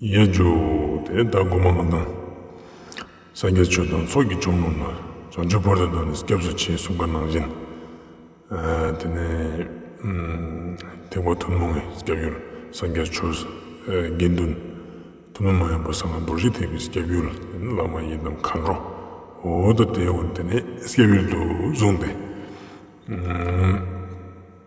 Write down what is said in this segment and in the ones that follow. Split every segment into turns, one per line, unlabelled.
ཡེ་འཇུག་དེ་ལྟར་སྒོམ་པ་མ་དང། སངས་རྒྱས་ཆོས་དང་ཚོགས་ཀྱི་ཆོམ་རྣམས་ལ། བྱང་ཆུབ་བར་དོ་དང་ནི་སྐྱབས་སུ་མཆི་གསུང་ག་ནང་བཞིན། དེ་ནས་ཐེག་པ་ཐུན་མོང་གི་སྐྱབས་ཡུལ་སངས་རྒྱས་ཆོས་དགེ་འདུན། ཐུན་མོང་མ་ཡིན་པ་གསང་བ་རྡོ་རྗེ་ཐེག་པའི་སྐྱབས་ཡུལ་དེ་ནི་བླ་མ་ཡི་དམ་མཁའ་འགྲོ་འོད་དང་དེའི་འོད་དེ་ནི་སྐྱབས་ཡུལ་དུ་བཟུང་སྟེ།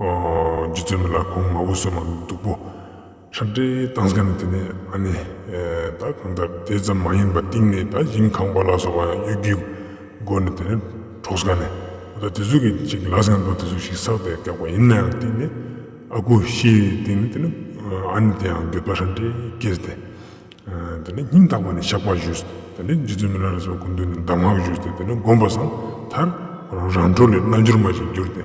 རྗེ་བཙུན་མི་ལ་གོང་མ་འུ་སུ་མ་མི་སྡུག་པོ་ཁྲག་འདྲེ་བཏང་ས་ནི་དེ་ནས་ཨ་ནི། ད་གང་ལྟར་དེ་ཙམ་མ་ཡིན་པ་གཏིང་ནས་ད་ཡིན་ཁང་པ་ལ་སོགས་པ་ཡང་གཡུལ་རྒྱུའི་སྒོ་ནས་དེ་ནས་འཕྲོག་ས་ནི། ད་དེ་ཚོ་གི་ཅིག་གི་ལག་ཟིན་འདུག་དེ་ཚོ་ཞིག་ཟགས་ཏེ་བཀག་པ་ཡིན་ན་ཡང་གཏིང་ནས་ཨ་ཁུ་ཤིའི་གཏིང་ནས་དེ་ནི་ཨ་ནི་དེ་ཡང་འགྱོད་པ་ཧྲལ་འདྲེ་ཀེར་ཏེ། དེ་ནས་སྙིང་ཐག་པ་ནས་བཤགས་པ་བཞུགས་དེ་ནས་རྗེ་བཙུན་མི་ལ་རེ་ཟུང་སྐུ་མདུན་ནས་གདམས་ངག་བཞུགས་ཏེ་དེ་ནས་བསྒོམས་པ་བཟང་མཐར་རང་འཕྲོ་ལས་རྣལ་འབྱོར་མ་ཞིག་གྱུར་ཏེ།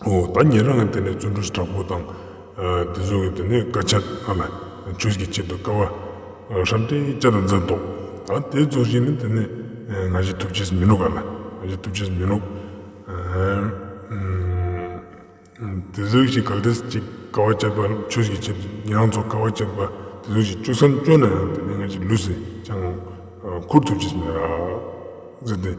ད་ངེད་རང་གི་དེ་ནས་བརྩོན་འགྲུས་དྲག་པོ་དང། དེ་ཚོ་གི་དེ་ནས་དཀའ་སྤྱད་ཨ་ལ་ཆོས་ཀྱི་ཆེད་དུ་དཀའ་བ། ཧྲ་ཏི་ཅཱ་དང་མཛའ་འདོག། ད་དེ་རྫོགས་བྱས་ནས་དེ་ནས་ང་བཞི་ཐུབ་ཆེས་མི་ལོག་ཨ་ལ། ང་བཞི་ཐུབ་ཆེས་མི་ལོག། དེ་ཚོ་བཞི་ག་དེ་ཅིག་དཀའ་བ་སྤྱད་པ་ཆོས་ཀྱི་ཆེད་དུ་ངེད་རང་ཚོ་དཀའ་བ་སྤྱད་པ་དེ་ཚོ་བཞི་བཅུ་སམ་བཅོ་ན་ཡང་དེ་ནས་ང་བཞི་ལུས་སེ་ཅང་ཁུར་ཐུབ་ཆེས་མེད་ར་ཟེར་ཏེ།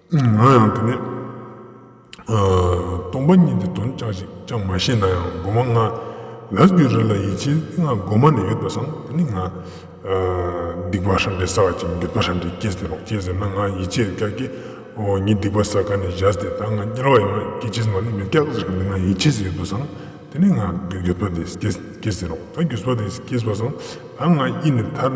ང་ཡང་དེ་ནས་སྟོང་པ་ཉིད་དེ་དོན་ཅག་ཅིག་ཅང་མ་ཤེས་ན་ཡང་སྒོ་མ་ལྔ་ལ་རྒྱུ་རེ་ལ་ཡིད་ཆེས་སྔ་སྒོ་མ་ནས་ཡོད་པ་བཟང་དེ་ནི་ང། སྡིག་པ་ཧྲ་འདྲེ་ཟ་བ་ཅིག་འདོད་པ་ཧྲ་འདྲེ་སྐྱེས་ཟེར་རོགས་སྐྱེས་ཟེར་ན་ང་ཡིད་ཆེས་སྐྱག་སྐྱེས་འོ་ཉིད་སྡིག་པ་ཟ་ག་ནས་བཞག་སྟེ་ད་ང་སྐྱེ་ལོག་ཡོང་ན་སྐྱེ་ཆེས་མ་ལུས་མེད་སྐྱག་ཟེར་གི་ང་ཡིད་ཆེས་ཡོད་པ་བཟང་དེ་ནི་ང་རྒྱུས་པ་དེ་སྐྱེས་ཟེར་རོགས་ད་རྒྱུས་པ་དེ་སྐྱེས་བཟང་ད་ང་ཡིད་ནས་ཐར།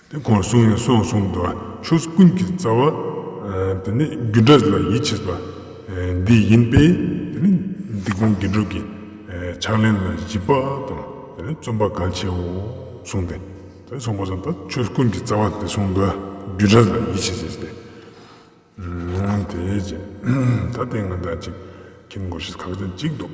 དེ་གོང་གསུང་ཡང་གསུང་གསུང་དུ་ཆོས་ཀུན་གྱི་རྩ་བ། དེ་ནི་རྒྱུ་འབྲས་ལ་ཡིད་ཆེས་པ། འདི་ཡིན་པས་དེ་ནི་འདི་གོང་དགེ་སྒྲུབ་ཀྱི། ཕྱག་ལེན་ལ་གཞི་བག་དང་དེ་ནི་བརྩོན་པ་གང་ཆེའོ་གསུང་སྟེ། དེ་གསུང་པ་ཙམ་དང་ཆོས་ཀུན་གྱི་རྩ་བ་དེ་གསུང་དུ་རྒྱུ་འབྲས་ལ་ཡིད་ཆེས་བྱས་ཏེ། དེའི་རྗེས་ད་ལྟའི་ང་བདག་ཅིག་ཁྱིམ་སྒོ་ཞིག་གང་ཅན་གཅིག་འདུག།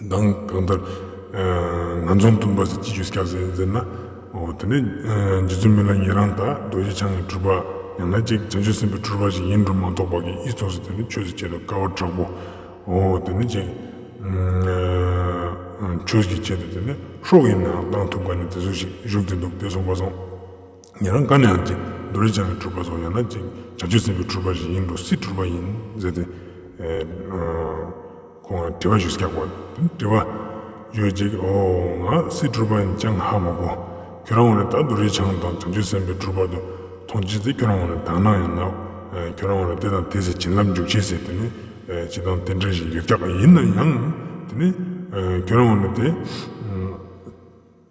དང། གང་ལྟར། ང་ཚོ་མཐུན་པར་སྤྱི་རྒྱུ་སྐྱབས་སེ་ཟེར་ན། དེ་ནི། རྗེ་བཙུན་མི་ལ་ཉན་རང་དང་རྡོ་རྗེ་འཆང་གི་གྲུབ་པ། ཡང་ན་ཅིག་བྱང་ཆུབ་སེམས་དཔའི་གྲུབ་པ་ཞིག་ཡིན་འགྲོ་མ་གཏོགས་པ་གིས་ཨི་ཚོགས་སུ་དེ་ནི་ཆོས་སུ་བྱེད་དུ་དཀའ་བ་དྲག་པོ། དེ་ནི་ཅིག། ཆོས་ཀྱི་ཆེད་དུ་དེ་ནི་ཤོག་ཡིན་ནའང་གཏང་ཐུབ་དཀའ་ནི་དེ་ཚོ་ཞིག་བཞུགས་ཏེ་འདུག་དེ་སོང་པ་སོང། ངེད་རང་དགའ་ནས་ཡང་ཅིག་རྡོ་རིལ་ཆང་གི་གྲུ་པ་བཟོ་ཡང་ན་ཅིག་བྱ་སྤྱོད་ཟིན་པའི་གྲུ་པ་ཞིག་ཡིན་འགྲོ་སྲིད་གྲུ་པ་ཡིན་ཟེར་ཏེ། ཁོང་ལ་དྲི་བ་ཞིག་བསྐྱག་པ། དྲི་བ། བརྗོད་ཅིག་ཨོ། ང་སྲིད་གྲུ་པ་ཡིན་ཅང་ཧ་མ་གོ། ཁྱོད་རང་ངོ་ལ་ད་རྡོ་རིལ་ཆང་དང་བྱ་སྤྱོད་ཟིན་པའི་གྲུ་པ་དུ་མཐོང་བྱས་ཚེ་ཁྱོད་རང་ངོ་ལ་དག་སྣང་ཡང་ན། ཁྱོད་རང་ངོ་ལ་དེ་དང་དེ་ཟེར་བྱིན་རླབས་འཇུག་བྱེད་ཟེར་དེ་ནི་ཅི་དང་དེ་འདྲ་ཞིག་ཡོད་བསྐྱག་ཡིན་ན་ཡང། དེ་ནི། ཁྱོད་རང་ངོ་ལ་དེ།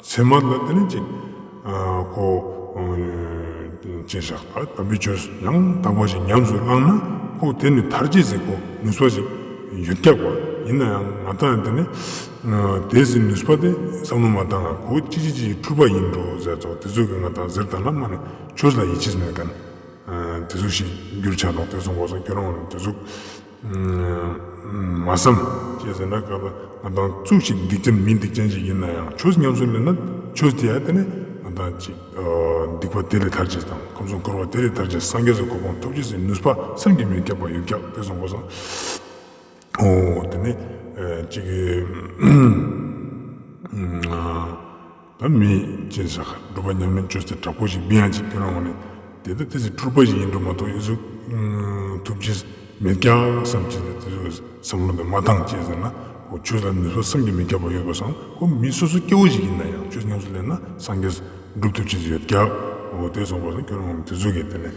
མཚན་མ་ལ་དེ་ནི་ཅིག། གོ། ཅེས་བཞག་པ་དམ་པའི་ཆོས་སུ་ཡང་དག་པ་ཞིག་ཉམས་སུ་བླངས་ན་ཁོ་དེ་ནི་དར་གྱི་ཟེ་གོ་ནུས་པ་ཞིག་ཡོད་སྐྱག་པ་ཡིན་ན་ཡང་ང་དང་དེ་ནི། དེའི་ཟེ་ནུས་པ་དེ་བསམ་བློ་མ་དང་གོ་ཅི་ཅི་ཅིའི་འཁྲུལ་པ་ཡིན་འགྲོ་ཟེར་ཚོ་དེ་ཚོས་ཀྱི་ང་དང་ཟེར་དང་ལ་མ་ནི་ཆོས་ལ་ཡིད་ཆེས་མེད་ག་ནི། དེ་ཚོ་ཞིག་རྒྱུར་ཆ་ལོག་དེ་ཚོ་འགོ་ཚ་ཁྱོད་རང་ངོ་ནི་དེ་ཚོ། མ་བསམ། ཅེས་ཟེར་ན་དགའ་བ་ང་དང་གཙུག་ཅིག་སྡིག་ཅན་མི་སྡིག་ཅན་ཞིག་ཡིན་ན་ཡང་ཆོས་ཉམས་སུ་ལེན་ན་ཆོས་དེ་ཡང་དེ་ནས་ང་དང་གཅིག་སྡིག་པ་དེ་ལས་ཐར་ཅིག་དང་ཁམས་གསུམ་འཁོར་བ་དེ་ལས་ཐར་ཅིག་སངས་རྒྱས་སུ་གོ་འཕང་ཐོབ་ཅིག་ཟེར་ནུས་པ་སེམས་ཀྱི་མེས་ཁྱབ་པ་ཡོད་ཀྱང་དེ་སོང་གོ་སོང། ཨོ། དེ་ནས་གཅིག། བུད་མེད་ཅན་ཟ་ཁར་སྒྲུབ་པ་ཉམས་ལེན་སྤྱོད་ཚེ་དྲག་པོ་ཞིག་སྦི་ཡང་ཅིག་སྐྱོན་རང་ངོ་ནས་དེ་ལྟ་དེ་ཚེ་འཁྲུལ་པ་ཞིག་ཡིན་འགྲོ་མ་གཏོགས་ཡིད་གཟུགས་ཐུབ་ཅི་མེད་རྐྱང་བསམ་གྱིས་ནས་དེ་ཚོའི་བསམ་བློ་འདི་མ་འདང་བསྐྱེད་ཟེར་ན་ཨོ་ཁྱོད་ལ་མི་སོ་བསམ་གྱིས་མི་ཁྱབ་པ་ཡོད་པར་བསམ་ཁོ་མི་སོ་སོ་སྐྱེ་བོ་ཞིག་ཡིན་ན་ཡང་ཁྱོད་ཉམས་སུ་ལེན་ན་སངས་རྒྱས་སྒྲུབ་ཐུབ་ཅི་ཡོད་རྒྱབ་ཨོ་དེ་སོང་བར་བསམ་ཁྱོད་རང་ངོ་ནས་དེ་ཚོ་གིས་དེ་ནས།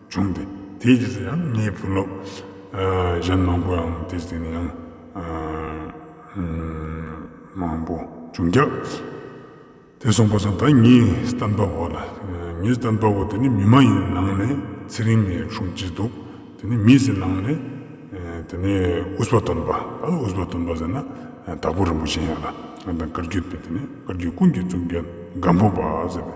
བྱུང་སྟེ་དེའི་རྗེས་སུ་ཡང་ངའི་བུ་སློབ་གཞན་མང་པོའང་དེ་གཟིགས་ནས་ཡང་མང་པོ་བྱུང་སྐབས། དེ་སོང་པ་སོང་ད་ངའི་སྟན་པ་བོ་ལ་ངའི་སྟན་པ་བོ་དེ་ནི་མི་མ་ཡིན་ནང་ནས་ཚེ་རིང་ངའི་གཞུང་བྱས་འདུག་དེ་ནི་མི་ཟེར་ནང་ནས་དེ་ནི་ཨུས་པ་དོན་པ་ཨ་ཨུས་པ་དོན་པ་ཟེར་ན་དྭགས་པོ་རིན་པོ་ཆེ་ཡིན་ལ་ང་དང་བཀར་རྒྱུད་དེ་ནི་བཀར་རྒྱུད་ཀུན་གྱི་གཙུག་རྒྱན་སྒམ་པོ་པ་ཟེར་བའི།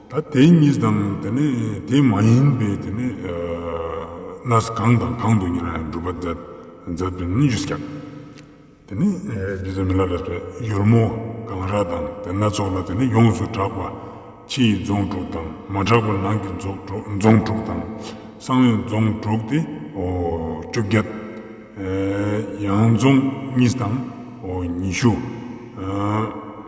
ད་དེ་གཉིས་དང་དེ་ནས་དེ་མ་ཡིན་པའི་དེ་ནས་གནས་སུ་གང་དང་གང་དུ་ཉེ་ལ་ཡང་སྒྲུབ་པ་མཛད་པའི་སྣོད་བཅུད་ཀྱང། དེ་ནས་རྒྱུད་ཚང་མི་ལ་རས་པའི་གཡུར་མོ་གངས་ར་དང་དེ་སྣ་ཚོགས་ལ་དེ་ནས་ཡོངས་སུ་གྲགས་པ་ཕྱི་ཡི་རྫོང་དྲུག་དང་མ་གྲགས་པ་ནང་གི་རྫོང་དྲུག་དང་གསང་བའི་རྫོང་དྲུག་སྟེ་བཅོ་བརྒྱད། ཡང་རྫོང་གཉིས་དང་ཉི་ཤུ།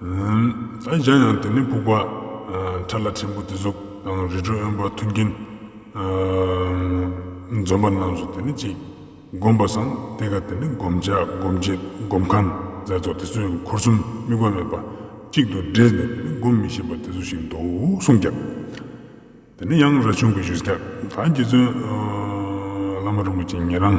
ཨ་གཞན་ཡང་དེ་ནི་ཕུག་པ། ཁྲ་ལ་ཕྲན་བུ་དེ་གཟུགས་དང་རི་ཁྲོད་གཡོན་པ་མཐུན་རྐྱེན། འཛོམ་པ་རྣམས་སུ་དེ་ནི་གཅིག། བསྒོམ་པ་སངས་ཏེ་ཀ་དེ་ནི་བསྒོམ་བྱ་སྒོམ་བྱེད་སྒོམ་ཁང་རྫས་ཚོགས་དེ་ཚོས་འཁོར་གསུམ་དམིགས་པ་མེད་པ་གཅིག་ཏུ་འདྲེས་ནས་དེ་ནི་བསྒོམ་མི་ཤེས་པ་དེ་ཚོ་ཞིག་འདུག་གསུངས་ཀྱང། དེ་ནི་ཡང་ར་ཆུང་གི་བཞུགས་སྒར་དག་རྗེ་བཙུན། བླ་མ་རིན་པོ་ཆེ་ཉན་རང།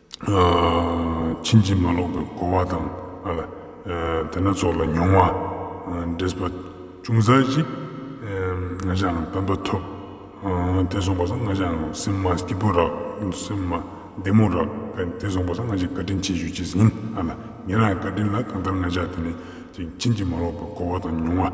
ཕྱིན་ཅི་མ་ལོག་པའི་གོ་བ་དང། དེ་སྣ་ཚོགས་ལ་མྱོང་བ། འདྲེས་པ་ཅུང་ཟད་ཅིག། ང་ཅག་དམ་པ་ཐོབ། དེ་སོང་བསམ་ང་ཅག་སེམས་མ་སྐྱིད་པོ་རག། སེམས་མ་བདེ་མོ་རག། དེ་སོང་བསམ་ང་ཅག་བཀའ་དྲིན་ཆེ་ཞུ་བྱེད་ཟིན། ངེད་རང་གི་བཀའ་དྲིན་ལ་གང་ལྟར་ང་ཅག་དེ་ནས་ཕྱིན་ཅི་མ་ལོག་པའི་གོ་བ་དང་མྱོང་བ།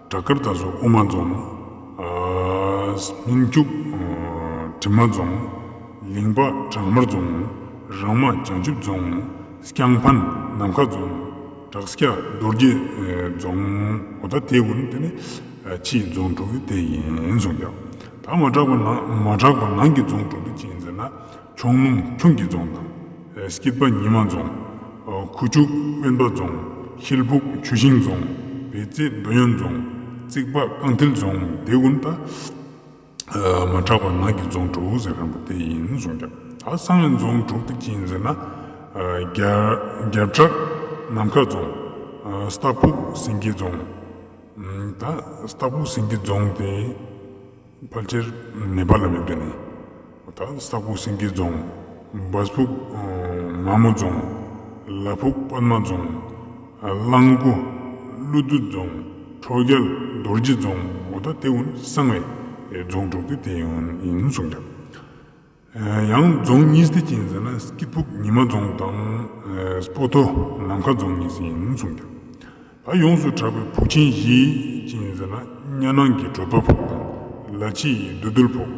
བྲག་དཀར་ད་གཟོད་དབུ་མ་རྫོང། སྨིན་སྐྱུག་གྲིབ་མ་རྫོང། ལིང་པ་བྲག་དམར་རྫོང། རང་མ་བྱང་ཆུབ་རྫོང། སྐྱང་ཕན་ནམ་མཁའ་རྫོང། བྲག་སྐྱ་རྡོ་རྗེ་རྫོང། ཨོ་ད་དེ་དགུ་ནི་དེ་ནི་ཕྱིའི་རྫོང་དྲུག་གི་སྟེང་ཡིན་གསུངས་ཀྱང། ད་མ་གྲགས་པ་ནང་གི་རྫོང་དྲུག་གི་སྤྱི་ཡིན་ཟེར་ན། ཁྱུང་ལུང་ཁྱུང་སྐྱིད་རྫོང་དང། སྐྱིད་པ་ཉི་མ་རྫོང། ཁུ་བྱུག་དབེན་པ་རྫོང། ཤེལ་ཕུག་ཆུ་ཤིང་རྫོང། བེ་རྩེ་འདོད་ཡོན་རྫོང། རྩིག་པ་རྐང་མཐིལ་རྫོང། དེ་ཀུན་ད་མ་གྲགས་པ་ནགས་ཀྱི་རྫོང་དྲུག་ཟེར་མཁན་པོ་དེ་ཡིན་གསུངས་ཀྱང། ད་གསང་བའི་རྫོང་དྲུག་དེ་ཅི་ཡིན་ཟེར་ན། རྒྱབ་བྲག་ནམ་མཁའ་རྫོང། སྟག་ཕུག་སེང་གེ་རྫོང། ད་སྟག་ཕུག་སེང་གེ་རྫོང་དེ། ཕལ་ཆེར་ནེ་པ་ལ་ཡོད་པའི་ནི། ད་ས་ཁུག་སེང་གེ་རྫོང། འབའ་ཕུག་ནག་མོ་རྫོང། ལ་ཕུག་པདྨ་རྫོང། གླང་ཁུ་ཀླུ་བདུད་རྫོང། ཁྲོ་རྒྱལ་རྡོ་རྗེ་རྫོང། ད་ལྟེ་ཧུན་སང་བའི་རྫོང་དྲུག་སྟེ་དེ་ཡིན་གསུངས་ཀྱང། ཡང་རྫོང་གཉིས་སྡེ་ཅིང་ཟེར་ན་སྐྱིད་ཕུག་ཉི་མ་རྫོང་དང་སྤོ་ཐོ་ནམ་མཁའ་རྫོང་གཉིས་ཡིན་གསུངས་འདུག་ད་ཡོངས་སུ་གྲགས་པའི་ཕུག་ཆེན་བཞི་ཅིང་ཟེར་ན་གཉའ་ནང་གི་བྲོ་ཐོ་ཕུག་དང་ལ་ཕྱི་ཡི་རྡོ་རྡུལ་ཕུག་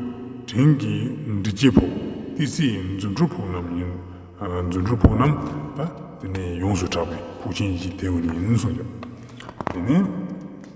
དྲིན་གྱི་འབྲི་སྐྱེས་ཕུག་ཏི་སེ་ཡི་རྫུ་འཕྲུལ་ཕུག་རྣམས་ཡིན་རྫུ་འཕྲུལ་ཕུག་རྣམས་ད་དེ་ནས་ཡོངས་སུ་གྲགས་པའི་ཕུག་ཆེན་བཞི་དེ་ཡིན་གསུངས་འདུག་དེ་ནས།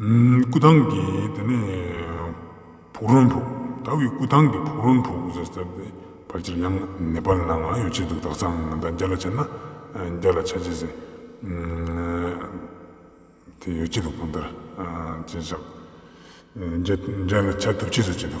སྐུ་ཐང་གི་དེ་ནས་ཕུག་རོན་ཕུག་ད་བའི་སྐུ་ཐང་གི་ཕུག་རོན་ཕུག་ཟེར་ཟེར་ཏེ་ཕར་ཆེར་ཡང་ནེ་པ་ལ་ནང་ཡོད་ཆེད་དུ་དག་ཚང་ང་ད་རྒྱ་ལ་ཆ་ན་རྒྱ་ལ་ཆ་ཆེ་ཟེར་དེ་ཡོད་ཆེད་དུ་གང་ལྟར་ཅེས་བཞག་རྒྱ་ལ་ཆ་ཐུབ་ཆེད་ཟེར་ཆེད་དུ།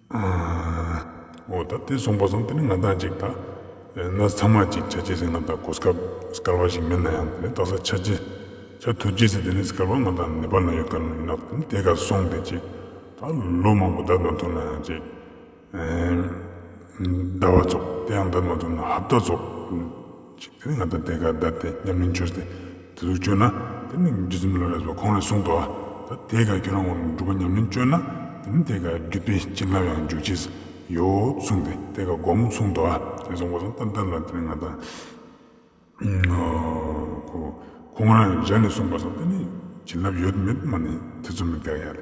ཨོ་ད་དེ་སོང་པ་སོང་དེ་ནི་ང་དང་ཅིག་ཐ་ན་ཚང་མ་ཅིག་ཆ་གཅིག་ཟེར་ང་དང་གོ་སྐབས་དཀར་བ་ཞིག་མེད་ན་ཡང་དེ་ནི་ལྟ་ས་ཆ་གཅིག་ཆ་དུ་གཅིག་ཟེར་དེ་ནི་སྐར་བ་ང་དང་ནེ་པ་ལ་ཡོད་སྐར་ནག་དེ་ནི་དེ་ག་སོང་དེ་ཅིག་ད་ལོ་མང་པོ་བདག་དང་ཐུག་ན་ཡང་ཅིག་ཟླ་བ་རྫོགས་དེ་ཡང་བདག་དང་ཐུག་ན་ཧབ་ད་རྫོགས། ཅིག་དེ་ནི་ང་དང་དེ་ག་ད་དེ་མཉམ་མིན་ཆོས་དེ་དེ་ལུགས་སྤྱོད་ན་དེ་ནི་རྒྱུ་མཚན་མི་ལོ་རེས་པ་ཁོང་རེ་ཟུང་དོ། ད་དེ་ག་ཁྱོད་རང་ངོ་མི་འགྲུབ་པ་མཉམ་མིན་སྤྱོད་ན་དེ་ནི་དེ་ག་རྒྱུ་དཔེ་ཅི་ལབ་ཡང་འཇུག་ཅིས་ཡོད་གསུངས་ཏེ་དེ་ག་སྒོམ་གསུངས་དོ། དེ་སོང་ཁོ་ཚང་ལྟ་བསྡད་ལ་དེ་ནི་ང་དང། ཁོང་རང་གཞན་ལས་གསུངས་པ་སོགས་དེ་ནི་བྱིན་རླབས་ཡོད་མེད་སྨྲ་ནས་དེ་ཚོ་མི་དགའ་ཡ་རེད།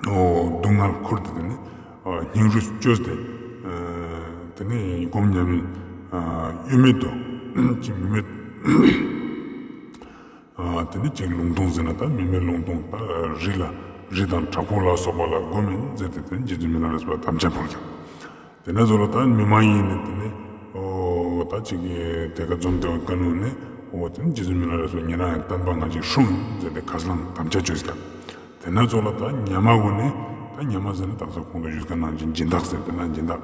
སྡུག་བསྔལ་འཁོར་འདི་དག་ནི། སྙིང་རུས་བཅོས་ཏེ། དེ་ནས་སྒོམ་ཉམས་མེད། གཡོ་མེད་དོ། ཅིང་མི་མེད། དེ་ནས་ཅིང་ལུང་སྟོང་ཟིན་ལ་དང་མི་མེད་ལུང་སྟོང་དང། རི་ལ་རི་དང་བྲག་ཕུག་ལ་སོགས་པ་ལ་སྒོམ་མིན་བཙལ་ཏེ་དེ་ནས་རྗེ་བཙུན་མི་ལ་ལ་སོགས་པ་དམ་ཅན་བོར་ཀྱང། དེ་ནས་བཟུང་ལ་ད་མི་མ་ཡིན་ནི་དེ་ནི། འོ་ད་ཅིག་དེ་ག་འཛོམས་དེའོ་ཀ་ནུ་ནི། འོ་དེ་ནི་རྗེ་བཙུན་མི་ལ་རེ་སོ་ཉེ་རང་ཡང་བསྟན་པ་ང་ཅིག་ཧྲུང་མཛད་དེ་ཁ་སང་དམ་བཅའ་བཅོས་ཟེར། དེ་ནས་བཟུང་ལ་ད་ཉལ་མ་བུ་ནི། ད་ཉལ་མ་ཟེར་ནི་དག་ས་ཁོང་དུ་བཞུགས་ད་ནང་ཅིག་སྦྱིན་བདག་ཟེར་དེ་ན་སྦྱིན་བདག།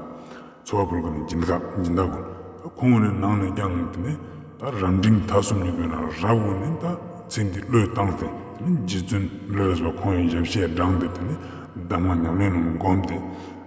འཚོ་བ་ཕུལ་གྱི་ནི་སྦྱིན་དགག་སྦྱིན་བདག་གོ། ད་ཁོང་བོ་ནི་ནང་ནས་བསྐྱངས་ནི་དེ་ནི། ད་རབ་འབྲིང་ད་སུམ་ཉིག་པའི་ན་རབ་བོ་ནི་ད་ཚེ་འདི་བློས་བཏང་སྟེ་དེ་ནི་རྗེ་བཙུན་མི་ལ་རེ་སོ་ཁོང་ཡང་ཡབ་བཤད་བགྲང་སྟེ་དེ་ནི་གདམས་ངག་ཉམས་ལེན་རྣམས་བསྒོམས་ཏེ།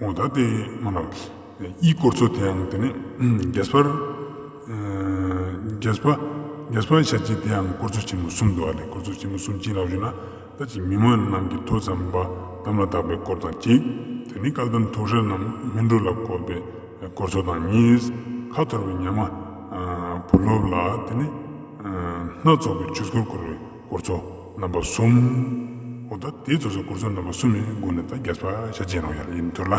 ངོ་ད་ལྟའི་མ་ལགས་དབྱིས་སྐོར་ཚོ་དེའང་དེ་ནས་རྒྱས་པར་རྒྱས་པར་བྱ་རྒྱུ་དེའང་སྐོར་ཚོ་ཆེན་མོ་གསུམ་འདུག་ཨ་ལས་སྐོར་ཚོ་ཆེན་མོ་གསུམ་གྱིས་ལགས་ཞུ་ན་ད་ཅིག་མི་མང་རྣམས་ཀྱི་ཐོས་བསམ་པ་དམ་ལ་བཏགས་པའི་སྐོར་དང་གཅིག་དེ་ནི་བཀའ་གདམས་ཐུགས་ཧྲལ་རྣམས་སྨིན་གྲོལ་ལ་བཀོད་པའི་སྐོར་ཚོ་དང་གཉིས་ཁ་འཐོར་བའི་ཉམས་བུ་སློབ་ལ་དེ་ནས་སྣ་ཚོགས་པའི་ཆོས་སྐོར་བསྐོར་བའི་སྐོར་ཚོ། རྣམ་པ་གསུམ། འོ་ད་དེའི་ཚོགས་སོགས་སྐོར་ཚོགས་རྣམ་པ་གསུམ་ཡིན་དགོངས་ནས་ད་རྒྱ་ཚོགས་ཧ་ཤ་ཅན་རང་ཡ་ར་ཡིན་འདོད་ལ།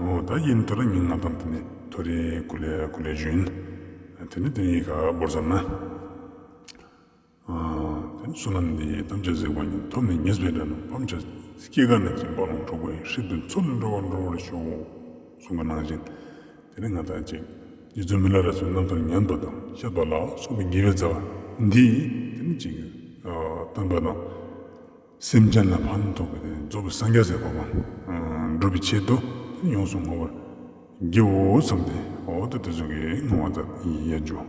འོ་ད་ཡིན་འདོད་ལ་ཉིན་ལྔ་ཙམ་དེ་ནས་ཐོ་རེ་གུ་ལེ་གུ་ལེ་བྱོན། དེ་ནས་དེ་གཉིས་ཀ་སྦོར་ཙམ་ན། དེ་ནས་བསོད་ནམས་འདི་ཐམས་ཅད་གཟིགས་པ་ཉིད་ཐོབ་ནས་ཉེས་པའི་དགྲ་རྣམས་ཕམ་བྱ། སྐྱེ་རྒ་ན་འཆི་འབའ་ཀློང་འཕྲོག་པའི་ཧྲིག་ཏུ་མཚོ་ལས་འགྲོ་བ་འགྲོ་བར་ཤོག། གསུང་གི་སྣང་བཞིན་དེ་ནས་ང་དང་བཅས། རྗེ་བཙུན་མི་ལ་རས་སུ་རྣམ་ཐར་ཉམས་པ་དང་ཤར་པ་ལ་སོགས་པའི་ཉེ་བའི་རྩ་བ་འདི་ཡིས་ཐིམ་ཅིང་བསྟན་པ་དང། སེམས་ཅན་ལ་ཕན་ཐོགས་པའི་རྫོགས་པའི་སངས་རྒྱས་ཟད་པ་དབང་སྒྲུབ་པའི་ཆེད་དུ་ཡོངས་སུ་བསྔོ་བར་བགྱིའོ་བསམས་ཏེ་འོག་ཏུ་དེ་ཚོགས་ཀྱི་བསྔོ་བ་ཙམ་ཡང་བརྗོད།